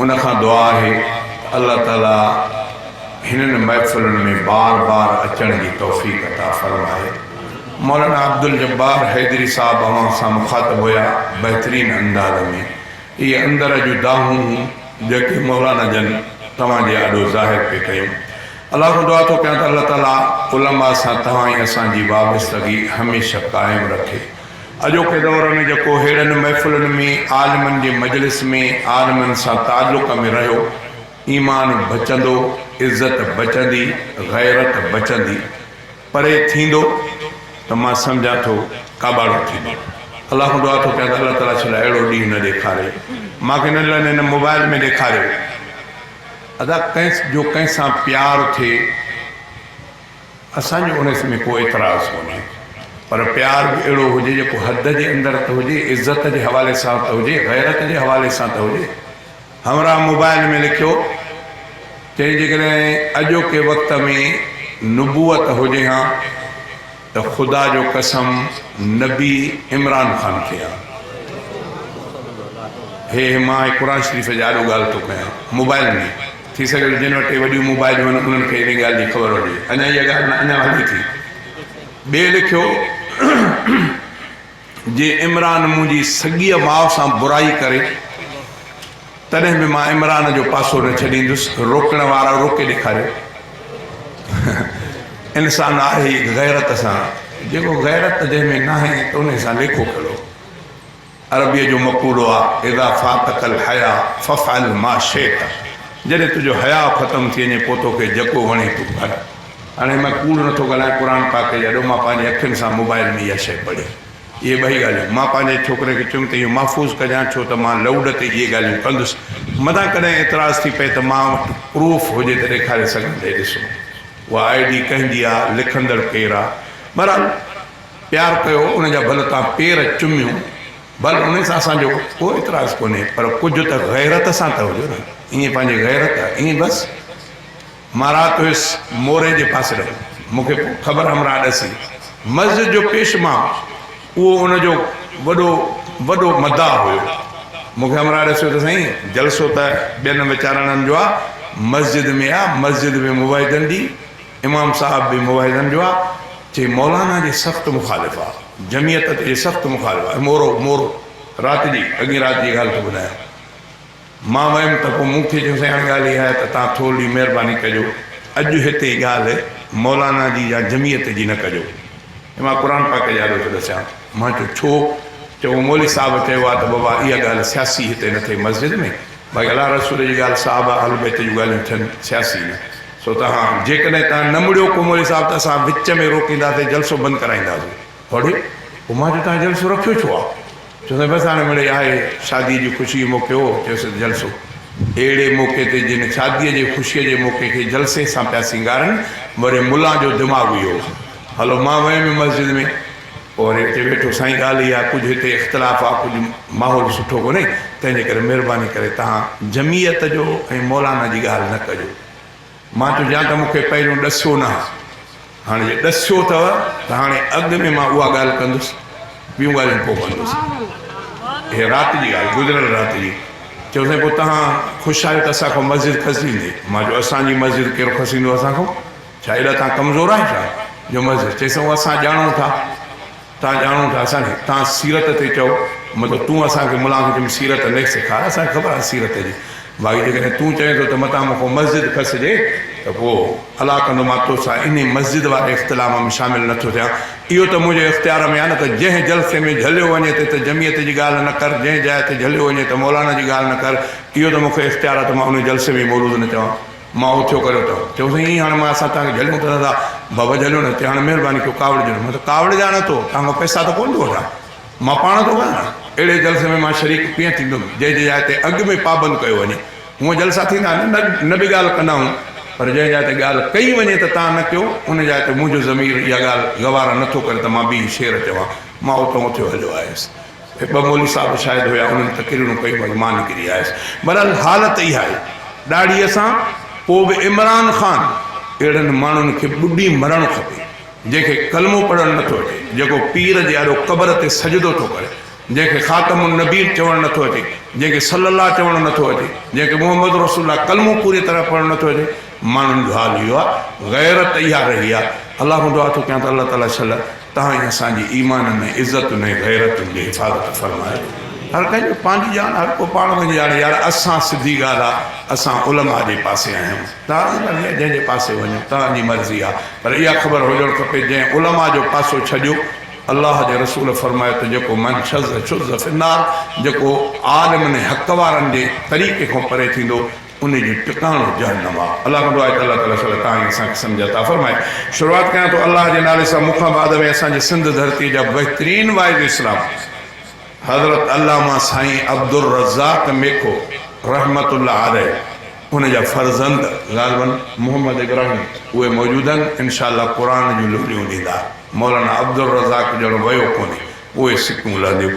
ان کان دعا آهي ته الله تعاليٰ هنن محفلن ۾ بار بار اچڻ جي توفيق عطا فرمائي. مولانا عبدالجبار حيدري صاحب اوهان سان مخاطب هيا بهترين انداز ۾ اهي اندر جون دانهون هون جيڪي مولانا جن توهان جي آڏو ظاهر پي ڪيون الله کان دعا ٿو ڪيان ته الله تعاليٰ علماء سان توهان ۽ اسان جي وابستگي هميشه قائم رکي. اڄوڪي دور ۾ جيڪو ههڙن محفلن ۾ عالمن جي مجلس ۾ عالمن سان تعلق ۾ رهيو، ايمان بچندو، عزت بچندي، غيرت بچندي، پري ٿيندو ته مان سمجهان ٿو ڪاٻاڙو ٿيندو. الله کان دعا ٿو ڪيان ته الله تعاليٰ ڇل اهڙو ڏينهن نه ڏيکاري. مان کي نه لن هن موبائل ۾ ڏيکاريو. ادا ڪنهن جو ڪنهن سان پيار ٿئي. اسان جو انس ۾ ڪو اعتراض ڪونهي پر پيار به اهڙو هجي جيڪو حد جي اندر ته هجي عزت جي حوالي سان ته هجي غيرت جي حوالي سان ته هجي همراهه موبائل ۾ لکيو چيائين جيڪڏهن اڄوڪي وقت ۾ نبوت هجي ها ته خدا جو قسم نبي عمران خان ٿئي ها هي هي مان هي قرآن شريف جي آڏو ڳالهه ٿو ڪيان موبائل ۾ ٿي سگهي ٿو جن وٽ ٽي وڏيون موبائلون آهن انهن کي انهيء ڳالهه جي خبر هجي. اڃا اها ڳالهه نه اڃا هلي ٿي. ٻئي لکيو، جي عمران منهنجي سڳيء ماء سان برائي ڪري تڏهن به مان عمران جو پاسو نه ڇڏيندس. روڪڻ وارا روڪي ڏيکاريو. انسان آهي ئي غيرت سان. جيڪو غيرت جنهن ۾ ناهي ته انهيء سان ليکو ڪهڙو. عربيء جو مقولو آ، اذا فاتك الحياء فافعل ما شئت، جڏهن تنهنجو حياء ختم ٿي وڃي پوء توکي جيڪو وڻي تون ڪر. هاڻي مان ڪوڙ نٿو ڳالهايان، قرآن پاڪ جي اڏو مان پنهنجي اکين سان موبائل ۾ اها شيء پڙهي. اهي ٻئي ڳالهيون. مان پنهنجي ڇوڪري کي چيم ته اهو محفوظ ڪجان ڇو ته مان لئوڊ تي اهي ڳالهيون ڪندس. متان ڪڏهن اعتراض ٿي پئي ته مان وٽ پروف هجي ته ڏيکاري سگهان ته هي ڏسو اها آء ڊي ڪنهن جي آ، لکندڙ ڪير آ. بهرحال! پيار ڪيو ان جا ڀل تان پير چميون ڀل ان سان اسان جو ڪو اعتراض ڪونهي پر ڪجهه ته غيرت سان ته هجو نه ائين پنهنجي غيرت ائين بس مان رات هيس موري جي پاسي رهيو مون کي پوء خبر همراهه ڏسي مسجد جو پيش ماء اهو ان جو وڏو وڏو مداح هيو مون کي همراهه ڏسيو ته سائين جلسو ته ٻين ويچارڻن جو آ مسجد ۾ آ مسجد ۾ مباحثن جي امام صاحب به موحدن جو آ چي مولانا جي سخت مخالف آ جميعت جي سخت مخالف آ مورو مورو رات جي اڳين رات جي ڳالھ ٿو ٻڌايان مان ويم ته پو مون کي چيو سائين هاڻي ڳالھ اها آهي ته تان ٿورڙي مهرباني ڪجو اڄ هتي ڳالھ مولانا جي يا جميعت جي نه ڪجو ۽ مان قرآن پاڪ جي آڏو ٿو ڏسيان مان چيو ڇو چئو مولي صاحب چيو آ ته بابا اها ڳالھ سياسي هتي نه ٿئي مسجد ۾ ڀائي الله رسول جي ڳالهه صحابه اهل بيت جون ڳالهيون ٿين سياسي نه سو تهان جيڪڏهن تهان نه مڙيو ڪومولي صاحب ته اسان وچ ۾ روڪينداسين جلسو بند ڪرائينداسين هوڙي پوء مان چيو تهان جلسو رکيو ڇو آهي چوندي بس هاڻي مڙي آهي شادي جي خوشي موقعي هو چيوسين جلسو اهڙي موقعي تي جن شادي جي خوشي جي موقعي کي جلسي سان پيا سينگارن مڙي ملان جو دماغ اهو هو هلو مان ويم مسجد ۾ اور اتي ويٺو سائين ڳالهه اها ڪجهه هتي اختلاف آ ڪجهه ماحول سٺو ڪونهي تنهن جي ڪري مهرباني ڪري تهان جمعيت جو ۽ مولانا جي ڳالهه نه ڪجو مان چيو جا ته مونکي پهريون ڏسيو نه هاڻي جي ڏسيو اٿو ته هاڻي اڳ ۾ مان اها ڳالهه ڪندس ٻيون ڳالهيون پوء ڪندس هي رات جي ڳالهه گذريل رات جي چيو سائين پوء تهان خوش آهيو ته اسان کان مسجد کسيندي مان چيو اسان جي مسجد ڪير کسيندو اسان کان ڇا ايڏا توهان ڪمزور آهيو ڇا؟ جو مظهر چيس اهو اسان ڄاڻون ٿا، توهان ڄاڻون ٿا اسان کي توهان سيرت تي چئو، مطلب تون اسان کي ملان کي چئين سيرت ليک سيکار اسان کي خبر آهي سيرت جي، باقي جيڪڏهن تون چوين ٿو ته متان مون کان مسجد کسجي ته پوء الا ڪندو مان توسان انهي مسجد واري اختلاف ۾ شامل نه ٿو ٿيان، اهو ته منهنجي اختيار ۾ آهي نه ته جنهن جلسي ۾ جهليو وڃي ته ته جمعيت جي ڳالهه نه ڪر، جنهن جاء تي جهليو وڃي ته مولانا جي ڳالهه نه ڪر، اهو ته مون کي اختيار آهي ته مان انهي جلسي ۾ ئي مولود نه چوان. مان اٿيو ڪريو ته چيو سائين ائين هاڻي مان اسان توهان کي جهليون ته دادا بابا جهليو نه چيائين هاڻي مهرباني ڪيو ڪاوڙ جهليو مان چيو ڪاوڙ جا نه ٿو توهان کان پئسا ته ڪونه ٿو وٺان مان پاڻ ٿو ڳايان اهڙي جلسي ۾ مان شريڪ ڪيئن ٿيندم جنهن جي جاء تي اڳ ۾ پابند ڪيو وڃي هونء جلسا ٿيندا نه نه به ڳالهه ڪندا آهيون پر جنهن جاء تي ڳالهه ڪئي وڃي ته توهان نه ڪيو ان جاء تي منهنجو ضمير اها ڳالهه گوارا نه ٿو ڪري ته مان ٻي شعر چوان مان اتان اٿيو هليو آيس هي ٻه مولوي صاحب به شاهد هيا، انهن تقريرون ڪيون ۽ مان نڪري آيس. بهرحال حالت اها آهي ڏاڙهيء سان. پوء به عمران خان اهڙن ماڻهن کي ٻڏي مرڻ کپي، جنهن کي ڪلمو پڙهڻ نٿو اچي، جيڪو پير جي آڏو قبر تي سجدو ٿو ڪري، جنهن کي خاتم النبين چوڻ نٿو اچي، جنهن کي صلّي الله چوڻ نٿو اچي، جنهن کي محمّد رسول الله ڪلمو پوريء طرح پڙهڻ نٿو اچي، ماڻهن جو حال اهو آهي غيرت اها رهي آهي الله کان دعا ٿو ڪيان ته الله تعالي صلي تهان ۽ اسان جي ايمان ۾ عزتن ۽ غيرتن جي حفاظت فرمائي هر ڪنهن جو پنهنجي ڄاڻ هر ڪو پاڻ وڃي ڄاڻي يار اسان سڌي ڳالهه آهي اسان علماء جي پاسي آهيون تهان جي مرضي آهي جنهن جي پاسي وڃو تهان جي مرضي آهي پر اها خبر هجڻ کپي جنهن علماء جو پاسو ڇڏيو الله جي رسول فرمايو ته جيڪو من شذ شذ في النار جيڪو عالمن ۽ حق وارن جي طريقي کان پري ٿيندو انهي جو ٽڪاڻو جهنم آ. الله ڪندو آهي ته الله تعالي صلي تان ئي اسان کي سمجهه عطا فرمائي. شروعات ڪيان ٿو الله جي نالي سان مون کان بعد ۾ اسان جي سنڌ ڌرتي جا بهترين واعظ اسلام حضرت علامه سائين عبدالرزاق ميکو رحمة الله عليه ان جا فرزند غالباً محمد ابراهيم اهي موجود آهن انشاء الله قرآن جون لوليون ڏيندا مولانا عبدالرزاق ڄڻ ويو ڪونهي پوء سڪيون لهنديون